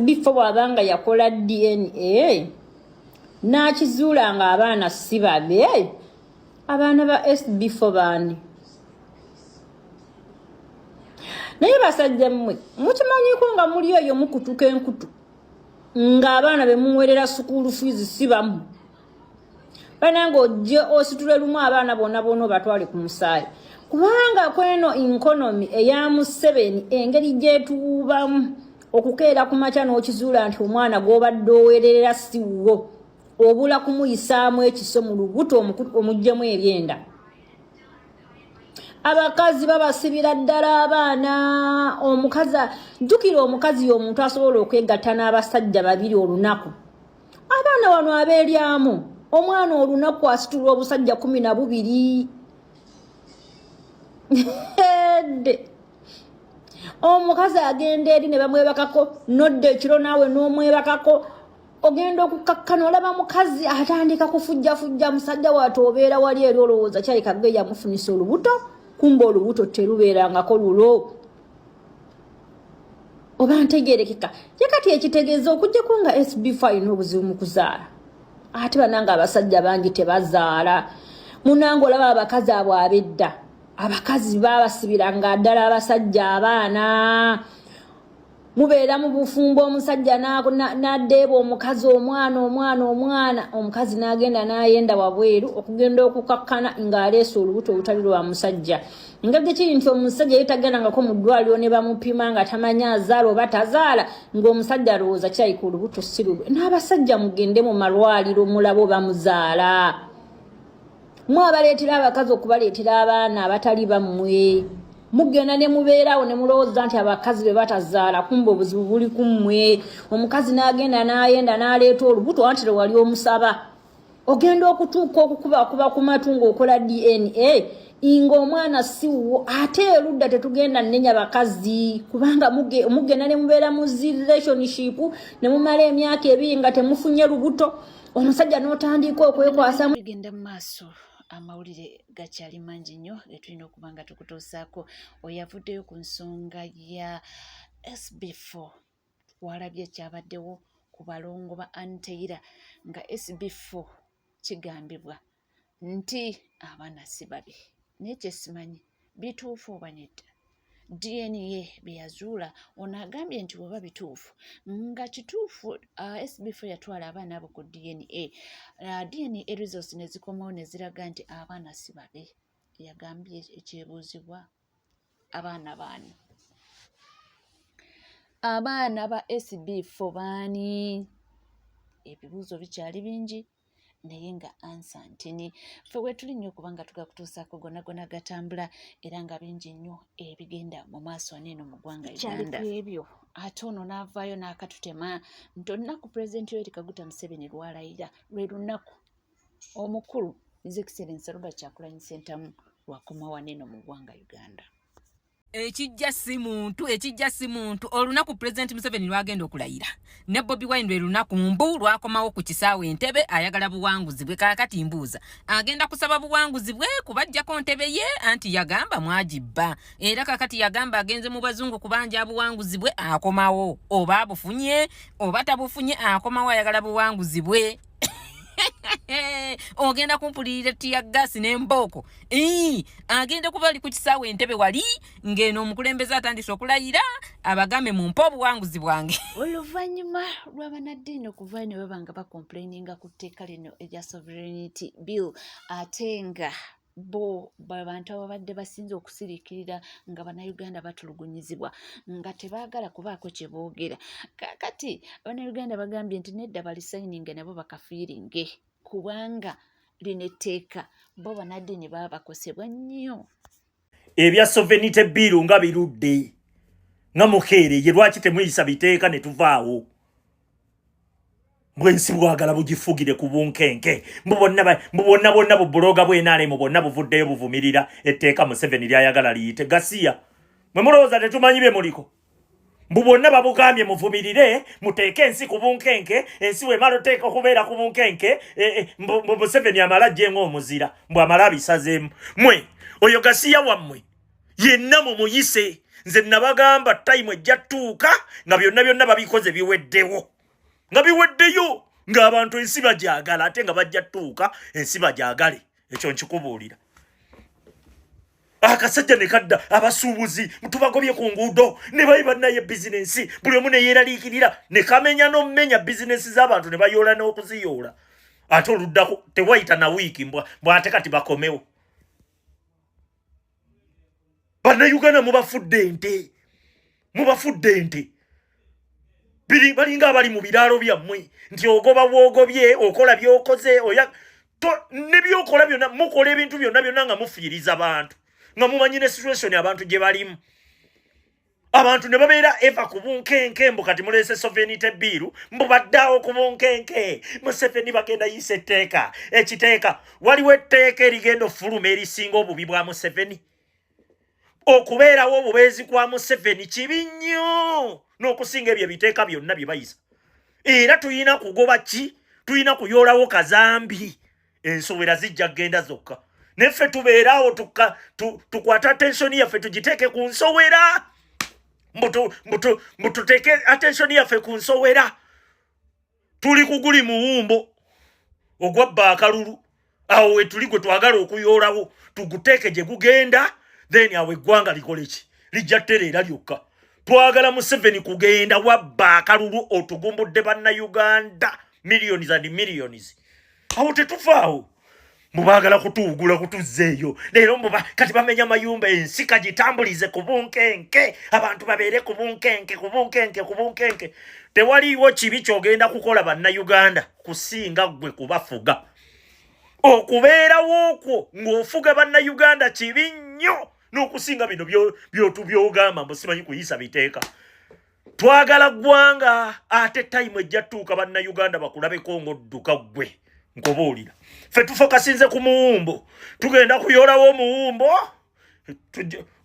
before bwaba nga yakola dna n'akizuula nga abaana si babe abaana ba before baani naye basajja mmwe mukimanyiko nga muli eyo mukutuka enkutu ng'abaana be muwerera sukuulu fiizi si bamu banange ojje ositule lumu abaana bona bona obatwale ku musaayi kubanga kweno inkonomi eya museveni engeri gyetuwubamu okukeera ku makya n'okizuula nti omwana gw'obadde owererera siwuwo obula kumuyisaamu ekiso mu lubuto omuggyemu ebyenda abakazi babasibira ddala abaana omukazi jjukira omukazi y'omuntu asobola okwegatta n'abasajja babiri olunaku abaana wano abeeryamu omwana olunaku asitula obusajja kumi na bubiri edde omukazi agenda eri ne bamwebakako nodda ekiro naawe n'omwebakako ogenda okukkakkana olaba mukazi atandika kufujjafujja musajja waate obeera wali eri olowooza kyayikagge yamufunisa olubuto kumba olubuto terubeerangako lulo oba ntegerekeka ye kati ekitegeeza okujjako nga sbf alina obuzibu mu kuzaala ate bananga abasajja bangi tebazaala munanga olaba abakazi abo abedda abakazi babasibira nga ddala abasajja abaana mubeera mu bufumbo omusajja nadeeba omukazi omwana omwana omwana omukazi nagenda nayenda wabweru okugenda okukakkana ng'aleesa olubuto olutali lwa musajja ngeri kiri nti omusajja yetaganangako mu ddwaliro ne bamupima nga tamanya azaala oba tazaala ng'omusajja alowooza kyayika olubuto sirulwe n'abasajja mugende mu malwaliro mulabo bamuzaala mwe abaleetera abakazi okubaleetera abaana abatali bammwe mugenda ne mubeerawo ne mulowooza nti abakazi be batazaala kumba obuzibu buli ku mmwe omukazi n'agenda n'ayenda n'aleeta olubuto anti lwe wali omusaba ogenda okutuuka okukubakuba ku matu ng'okola dna nga omwana siwuwo ate erudda tetugenda nenya bakazi kubanga mugenda ne mubeera mu zi relationship ne mumala emyaka ebiri nga temufunye lubuto omusajja n'otandiika okwekwasamu genda mu maaso amawulire gakyali mangi nnyo getulina okuba nga tukutuusaako oyavuddeyo ku nsonga ya sb4 twalabye ekyabaddewo ku balongo ba anteyira nga sb4 kigambibwa nti abaana si babe naye kyesimanyi bituufu oba nedda dna byeyazuula ono agambye nti weba bituufu nga kituufu uh, sbf yatwala abaana abo ku dna uh, dna results nezikomawo neziraga nti abaana si babe yagambye ekyebuuzibwa abaana baani abaana ba sb fo baani ebibuuzo bikyali bingi naye nga ansa ntini fe wetuli nnyo okuba nga tuga kutuusaako gonagona gatambula era nga bingi nnyo ebigenda mu maaso aneeno mu ggwanga uganda ebyo ate ono n'avaayo n'akatutema nti olunaku pulezidenti yoeri kaguta museveni lwalayira lwe lunaku omukulu His Excellency Robert Kyagulanyi Ssentamu lwakomawa neno mu ggwanga Uganda. ekijja si muntu ekijja si muntu olunaku pulezidenti museveni lwagenda okulayira ne bobi wine lwe lunaku mbu lwakomawo ku kisaawe entebe ayagala buwanguzi bwe kakati mbuuza agenda kusaba buwanguzi bwe kubajjako ntebe ye anti yagamba mwagibba era kakati yagamba agenze mu bazungu kubanja buwanguzi bwe akomawo oba abufunye oba tabufunye akomawo ayagala buwanguzi bwe ogenda kumpulirira tiya gasi nembooko agenda kuba ali ku kisaawe entebe wali ng'eno omukulembeze atandise okulayira abagambe mu mpa obuwanguzi bwange oluvannyuma lw'abanaddiini okuva ne baba nga bakomplaininga ku tteeka lino erya sovereignity bill ate nga bo babantu ababadde basinze okusiriikirira nga bannayuganda batulugunyizibwa nga tebaagala kubaako kye boogera kakati bannayuganda bagambye nti nedda balisayininge nabo bakafiiringe kubanga lino etteeka bo banaddiini baba bakosebwa nnyo ebya sovenite biiru nga birudde nga mukheereye lwaki temuyisa biteeka ne tuvaawo mbwensi bwagala bugifugire ku bunkenke mbubonna bwonna bubuloga bwenalemu bwonna buvuddeyo buvumirira etteeka museveni lyayagala liyite gasiya mwe mulowooza tetumanyi bye muliko mbu bwonna babugambye muvumirire muteeke ensi ku bunkenke ensi wemala oteeka okubeera ku bunkenke e, e, mbu museveni amala jje ngaomuzira mbu amala abisazeemu mwe oyo gasiya wammwe yenna mumuyise nze nabagamba tayimu ejja tuuka nga byonna byonna babikoze biweddewo nga biweddeyo ng'abantu ensi bagyagala ate nga bajja tuuka ensi bagyagale ekyo nkikubuulira akasajja ne kadda abasuubuzi tubagobye ku nguudo ne bayi bannaye bizinensi buli omu ne yeeraliikirira ne kamenya n'omumenya bizinensi z'abantu ne bayoola n'okuziyoola ate oluddako tewayita na wiiki mbwa ate kati bakomewo bannayuganda mubafudde ente mubafudde ente balinga abali mu biraalo byammwe nti ogoba bwogobye okola byokoze oya ne byokola byonna mukola ebintu byonna byonna nga mufiiriza bantu nga mumanyi ne situation abantu gye balimu abantu ne babeera eva ku bunkenke mbu kati muleese soveni tebiiru mbu baddaawo ku bunkenke museveni bagenda yiisa etteeka ekiteeka waliwo etteeka erigenda ofuluma erisinga obubi bwa museveni okubeerawo obubeezi kwa museveni kibi nnyo n'okusinga ebyo ebiteeka byonna bye bayisa era tulina kugoba ki tulina kuyoolawo kazambi ensowera zijja kugenda zokka naye ffe tubeeraawo tukwata attensioni yaffe tugiteeke ku nsowera mbututeeke attensioni yaffe ku nsowera tuli kuguli muwumbo ogwabba akalulu awo wetuli gwe twagala okuyoolawo tuguteeke gye gugenda then awo eggwanga likole ki lijja tereera lyokka twagala museveni kugenda wabba akalulu otugumbudde bannayuganda millions and millions awo tetuvaawo mubagala kutuwugula kutuzza eyo leero muba kati bamenya mayumba ensi kagitambulize ku bunkenke abantu babeere ku bunkenke ku bunkenke ku bunkenke tewaliiwo kibi kyogenda kukola bannayuganda kusinga ggwe kubafuga okubeerawo okwo ng'ofuga bannayuganda kibi nnyo n'okusinga bino byotubyogamba mbu simanyi kuyisa biteeka twagala ggwanga ate tayimu ejja tuuka bannayuganda bakulabeko ng'odduka ggwe nkobuulira ffe tufokasinze ku muwumbo tugenda kuyolawo omuwumbo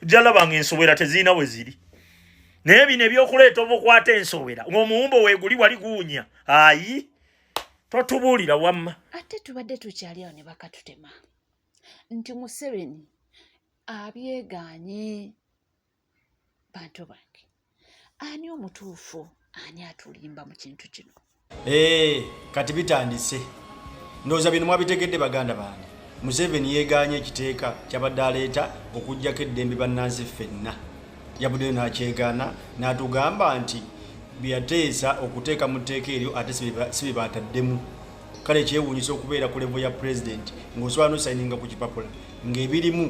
jalabanga ensowera tezirina we ziri naye bino ebyokuleeta obukwata ensowera ng'omuwumbo weeguli wali guwunya ayi totubuulira wamma ate tubadde tukyali awo ne bakatutema nti museveni abyeganye bantu bange ani omutuufu ani atulimba mu kintu kino ee eh, kati bitandise ndowooza bino mwabitegedde baganda bange museveni yegaanye ekiteeka kyabadde aleeta okugjako eddembe bannansi ffenna yabuddeyo nakyegaana natugamba nti byeyateesa okuteeka mu tteeka eryo ate sibebaataddemu kale kyewuunyisa okubeera ku levo ya pulezidenti ng'osobola nosayininga ku kipapula ng'ebirimu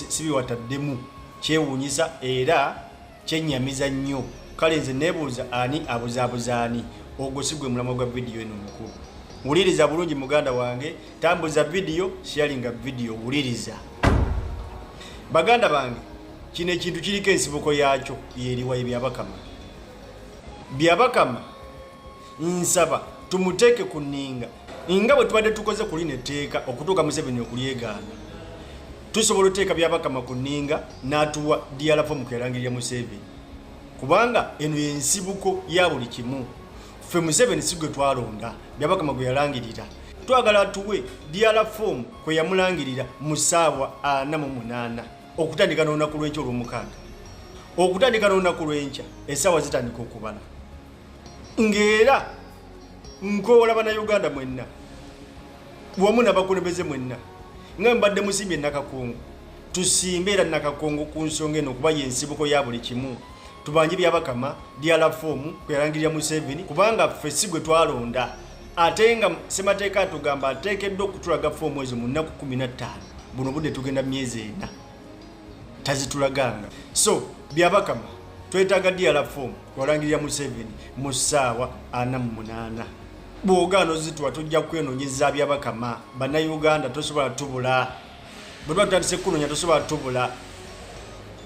sibiwataddemu kyewuunyisa era kyennyamiza nnyo kale nze nebuuza ani abuzaabuza ani ogwo si gwe mulamwa gwa vidiyo eno mukulu wuliriza bulungi muganda wange tambuza vidiyo sharinga vidiyo wuliriza baganda bange kino ekintu kiriko ensibuko yaakyo yeriwa ye byabakama byabakama nsaba tumuteeke ku nninga nga bwe tubadde tukoze ku lino etteeka okutuuka museveni okulyegaana tusobola oteeka byabakama ku nninga n'atuwa diyalafo mu kwerangirya museveni kubanga eno yensibuko ya buli kimu ffe museveni si gwe twalonda byabakama gwe yalangirira twagala atuwe diala fom kwe yamulangirira mu ssaawa ana mu munaana okutandika n'olunaku lw'enkya olw'omukaaga okutandika n'olunaku lw'enkya essaawa zitandika okubala ng'era nkoola bannayuganda mwenna wamu nabakulembeze mwenna nga mbadde musimbye nakakungu tusimbe era nakakungu ku nsonga eno okuba yensibuko ya buli kimu tubanje byabakama diala fomu kuyalangirira museveni kubanga ffe si gwe twalonda ate nga semateeka atugamba ateekeddwa okutulaga fomu ezo mu nnaku kumi na ttaano buno budde tugenda myezi ena tazitulaganga so byabakama twetaaga diala fom walangirira museveni mu ssaawa ana mu munaana bwogaana ozituwa tujja kwenonyeza byabakama bannayuganda tosobola tubula bwe tuba tutandise kunonya tosobola tubula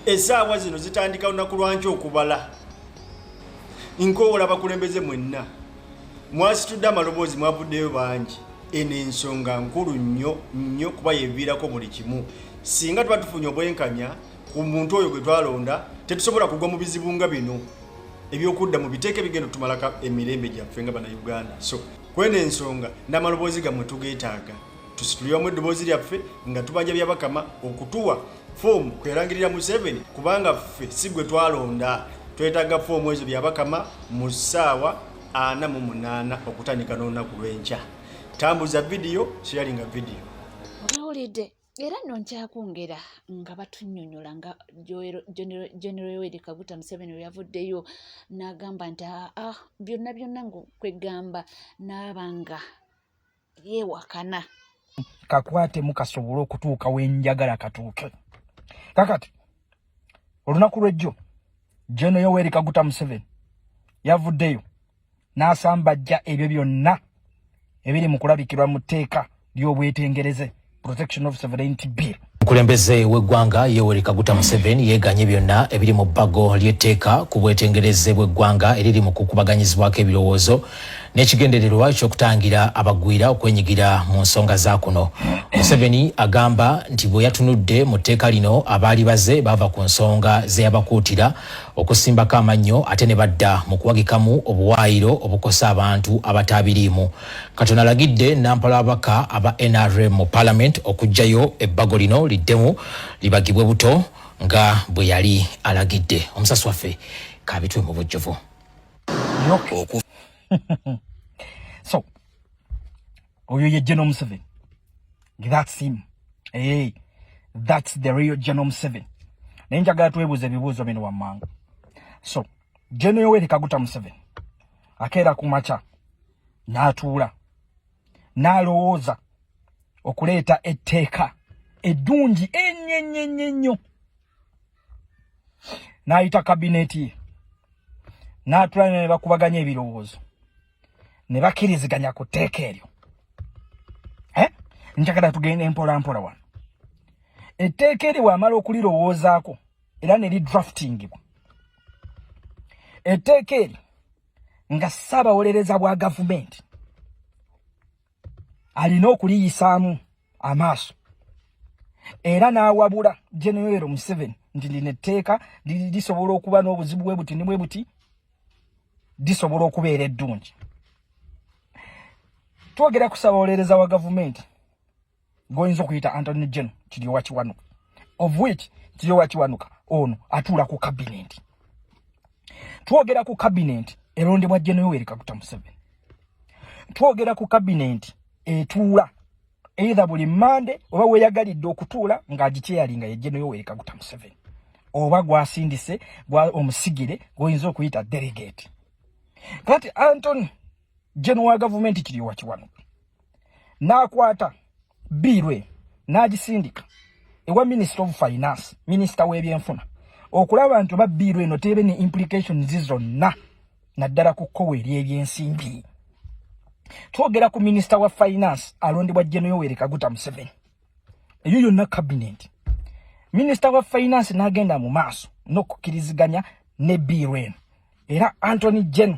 esaawa zino zitandika lunaku lwanki okubala nkoola bakulembeze mwenna mwasitudde amaloboozi mwavuddeyo bangi eno ensonga nkulu nnyo nnyo kuba yeviirako buli kimu singa tuba tufunye obwenkanya ku muntu oyo gwe twalonda tetusobola kugwa mu bizibu nga bino ebyokudda mu biteeke bigenda otumalako emirembe gyaffe nga bana uganda so kwena ensonga namaloboozi gamwe tugetaaga tusituliramu eddoboozi lyaffe nga tubanja byabakama okutuwa foomu kwerangirira museveni kubanga ffe si gwe twalonda twetaaga foomu ezo byabakama mu ssaawa ana mu munaana okutandika n'olunaku lw'enkya tambuza vidiyo sharinga vidiyo era nno nkyakwongera nga batunyonyola nga general yoweri kaguta museveni weyavuddeyo nagamba nti aa ah, ah, byonna byonna ngaokwegamba naabanga yewakana kakwatemu kasobole okutuuka wenjagala katuuke kakati olunaku lwejjo general yoweri kaguta museveni yavuddeyo n'asambajja ebyo byonna ebiri mu kulabikirwa mu tteeka ly'obwetengereze protection of sovereignty bill omukulembeze w'eggwanga yoweri kaguta museveni yeganye byonna ebiri mu bbago ly'etteeka ku bwetengereze bw'eggwanga eriri mu kukubaganyizibwako ebirowoozo n'ekigendererwa eky'okutangira abagwira okwenyigira mu nsonga za kuno museveni agamba nti bwe yatunudde mu tteeka lino abaali baze baava ku nsonga ze yabakuutira okusimbako amannyo ate ne badda mu kuwagikamu obuwaayiro obukosa abantu abataabiriimu. Kati ono alagidde nampala ababaka aba nrm mu palamenti okuggyayo ebbago lino liddemu libagibwe buto nga bwe yali alagidde. Omusasi waffe kabitwe mu bujjuvu. oyo ye General Museveni that's him hey, eh, that's the real General Museveni naye njagala twebuuza ebibuuzo bino wammanga so General Yoweri Kaguta Museveni akeera ku makya n'atuula n'alowooza okuleeta etteeka eddungi ennyo ennyo ennyo ennyo n'ayita kabineeti ye n'atulana ne bakubaganya ebirowoozo ne bakkiriziganya ku tteeka eryo eh? njagala tugenda empola mpola wano etteeka eryo wamala okulirowoozaako era ne lidraftingibwa etteeka eryo nga ssaabawolereza bwa gavumenti alina okuliyisaamu amaaso era n'awabula genero museven nti lino etteeka lisobola okuba n'obuzibu bwe buti ni bwe buti lisobola okubeera eddungi twogera kusabawolereza wa gavumenti goyinza okuyita antony gen kiryowa kiwanuka of which kiryowa kiwanuka ono atuula ku kabinenti twogera ku kabinenti erondebwa jenoyoweri kaguta museveni twogera ku kabinenti etuula eitha buli mande oba weyagalidde okutuula ng'agikyeyali nga yejenoyoweri kaguta museveni oba gwasindise gwa omusigire gwoyinza okuyita delegate kati antony jeno wa gavumenti kiri wa kiwano n'akwata biirwe n'agisindika ewa minisita of finance minisita w'ebyenfuna okulaba nti oba biirwe eno teebe ne implications zonna naddala ku kkowe ery'ebyensimbi twogera ku minisita wa finance alondebwa jeno yoweri kaguta museveni eyo yonna kabineeti minisita wa finance n'agenda mu maaso n'okukkiriziganya ne biirwe eno era antony gen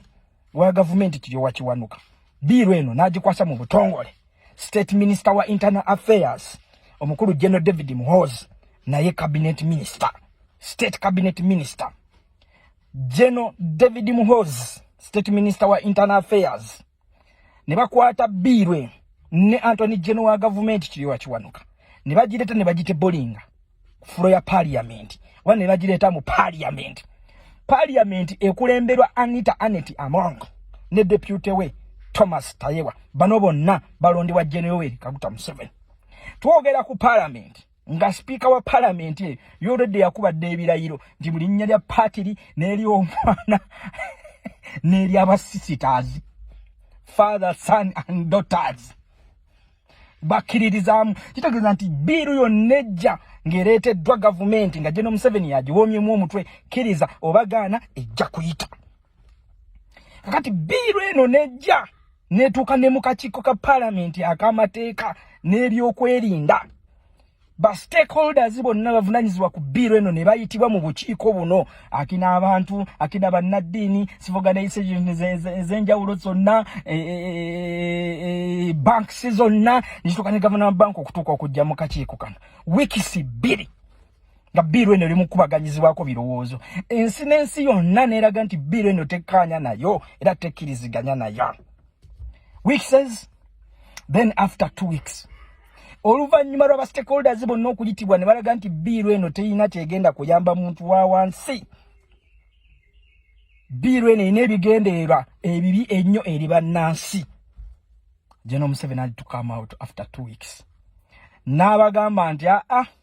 wa gavumenti kiyowa kiwanuka biiru eno n'agikwasa mu butongole state minister wa internal affairs omukulu general david muhoozi naye cabinet minister state cabinet minister general david muhoozi state minister wa internal affairs ne bakwata biirwe ne antony geno wa gavumenti kiriwa kiwanuka ne bagireeta ne bagite bolinga ku fulo ya paliyamenti oba ne bagireeta mu paliyamenti paliyamenti ekulemberwa anita anet among ne depute we thomas tayewa bano bonna balondebwa generoweri kaguta museveni twogera ku palamenti nga sipiika wa palamenti eyo yolwedde yakubadde ebirayiro nti mu linnya lya patiri n'eri omwana n'eri abasisiters father son and daughters bakkiririzaamu kitegeeza nti biiru yonna ejja ng'ereeteddwa gavumenti nga geno museveni yagiwoomyemu omutwe kkiriza oba gaana ejja kuyita kakati biiru eno nejja netuuka ne mu kakiiko ka palamenti ak'amateeka n'ebyokwerinda ba stakeholders bonna bavunanyizibwa ku biiro eno ne bayitibwa mu bukiiko buno akina abantu akina bannaddiini sivoganayise ez'enjawulo zonna e, e, e, banks zonna nekituuka ne gavana wa banka okutuuka okujja mu kakiiko kano wiikisi bbiri nga biiru eno eri mukubaganyizibwako birowoozo ensi n'ensi yonna neeraga nti biiru eno tekkaanya nayo era tekkiriziganya nayo weeks then after two weeks oluvannyuma lwaba stakeholders bonna okuyitibwa ne balaga nti biiru eno terina kyegenda kuyamba muntu wa wansi biiru eno erina ebigendererwa ebibi ennyo eri bannansi general museveni had to come out after two weeks n'abagamba nti aa ah, ah,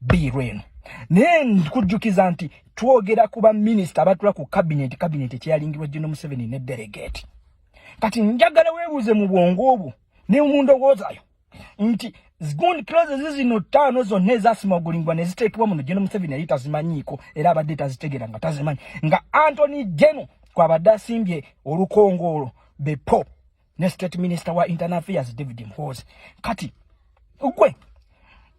biiru eno naye nkujjukiza nti twogera ku baminisita abatula ku kabineti kabineti ekyeyalingirwa gino museveni ne delegate kati njagala weebuuze mu bwongo obwo ne mu ndowoozayo nti zigundi kilozi zizino ttaano zonna ezasimagulingwa ne ziteekebwa muno gino museveni yali tazimanyiiko era abadde tazitegeera nga tazimanyi nga antony geno kwabadde asimbye olukongoolo bepo ne state minister wa internal affairs david mhozi kati gwe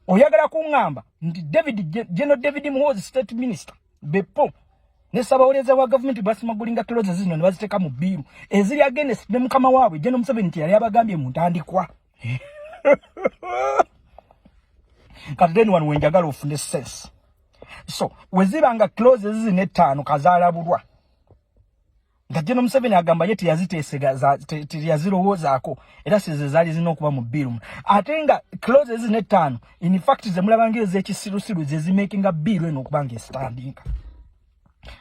oyagala kuŋŋamba nti david geno david mhozi state minister bepo ne ssabawolereza wa gavumenti basimagulinga kilozi zino ne baziteeka mu bbiiru eziri agenesi ne mukama waabwe geno museveni nti yali abagambye mu ntandikwa kati then wano wenjagala ofune sense so weziba nga kilozi zino ettaano kazaalabulwa nga General Museveni agamba ye teyaziteesega teyazirowoozaako era size zaali zirina okuba mu bill ate nga close ezina ettaano in fact ze mulabanga ez'ekisirusiru ze zimakinga bill eno okuba nga esitandinga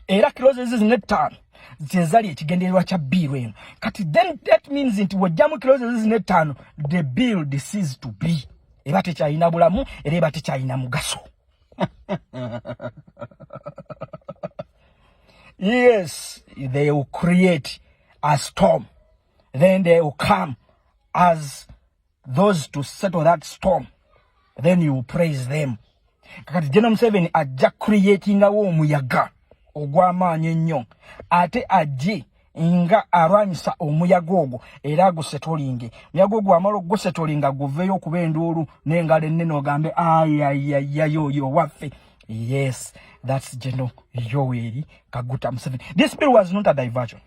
era close ezizina ettaano ze zali ekigendererwa kya bill eno kati then that means nti wojjamu close ezizina ettaano the bill decides to be eba tekyalina bulamu era eba tekyalina mugaso yes, they will create a storm. Then they will come as those to settle that storm. Then you will praise them. Kakati General Museveni ajja creatingawo omuyaga ogw'amaanyi ennyo ate ajje nga alwanyisa omuyaga ogwo era agusetolinge muyaga ogwo amala okugusetolinga guveeyo okuba enduulu n'engalo ennene ogambe ayayayayoyo waffe yes thats geno yoweri kaguta museveni this bill was not a diversion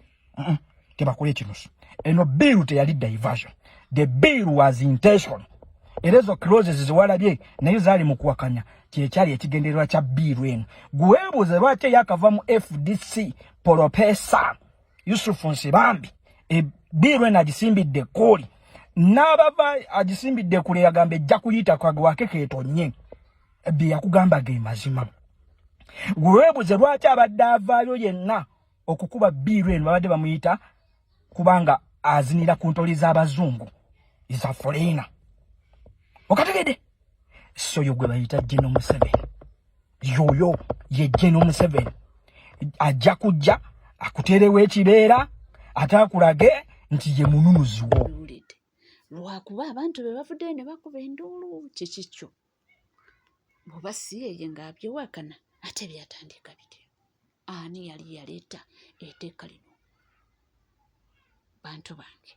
tebakola ekinusu eno bill teyali diversion the bill was intention era ezo closes ziwalabye naye zaali mu kuwakanya kyekyali ekigendererwa kya biiru eno gwebuuze lwaki eyakava mu fdc polopeesa yusufu nsibambi ebbiirwe nagisimbidde ekkuuli n'abava agisimbidde kule yagamba ejja kuyita kagwake ketonye bye yakugamba ge mazima weweebuze lwaki abadde avaayo yenna okukuba bbiirwe eno babadde bamuyita kubanga azinira ku ntoli z'abazungu is a foreigner okategede so yo gwe bayita jeno museveni yoyo ye jeno museveni ajja kujja akuterewo ekibeera ate akulage nti ye mununuziwo lwakuba abantu be bavuddeyo ne bakuba enduulu kikikyo oba si yeye ng'abyewakana ate byatandika bityo ani yali yaleeta eteeka lino bantu bange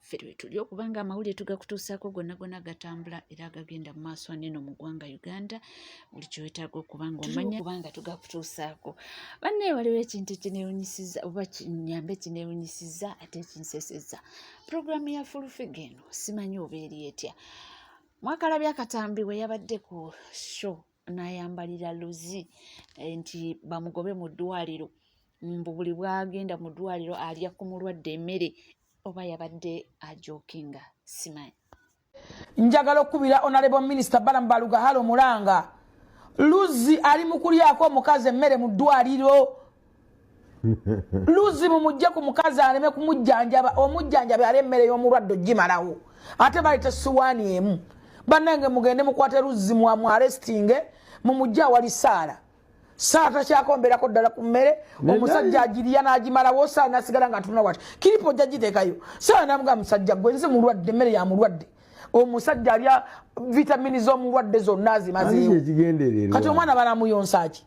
ffe lwetuli okuba nga amawulire tugakutuusaako gonna gonna gatambula era agagenda mu maaso aneeno mu ggwanga uganda buli kyewetaaga okuba nga omanya kubanga tugakutuusaako bannaye waliwo ekintu kinewunyisiza oba kinyambe kinewunyisiza ate kinseseza pulogulaamu ya fulufiga eno simanyi oba eri etya mwakalabya akatambi bwe yabadde ku show n'ayambalira luzi eh, nti bamugobe mu ddwaliro mbu buli bwagenda mu ddwaliro alya ku mulwadde emmere oba yabadde ajokinga simanyi njagala okukubira onalebo minisita balamu balugahalo mulanga luzzi ali mu kulyako omukazi emmere mu ddwaliro luzibu mujje ku mukazi aleme kumujjanjaba omujjanjabi ali emmere y'omulwadde ogimalawo ate baleta siwaani emu bannange mugende mukwate luzimu amu arestinge mumujje awali saala saala takyakomberako ddala ku mmere omusajja agiriya n'agimalawo saala nasigala nga atunula wati kiripo ojja giteekayo saala namuga musajja gwe nze mulwadde emmere ya mulwadde omusajja alya vitamini z'omulwadde zonna azimazeewo kati omwana banamuyonsaaki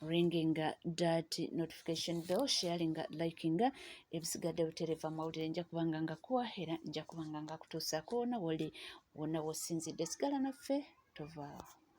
ringing dat notification bell sharing liking ebisigadde butereeva amawulire nja kubanga nga kuwa era nja kubanga nga kutuusaako wona woli wona wosinzidde sigala naffe tovaawo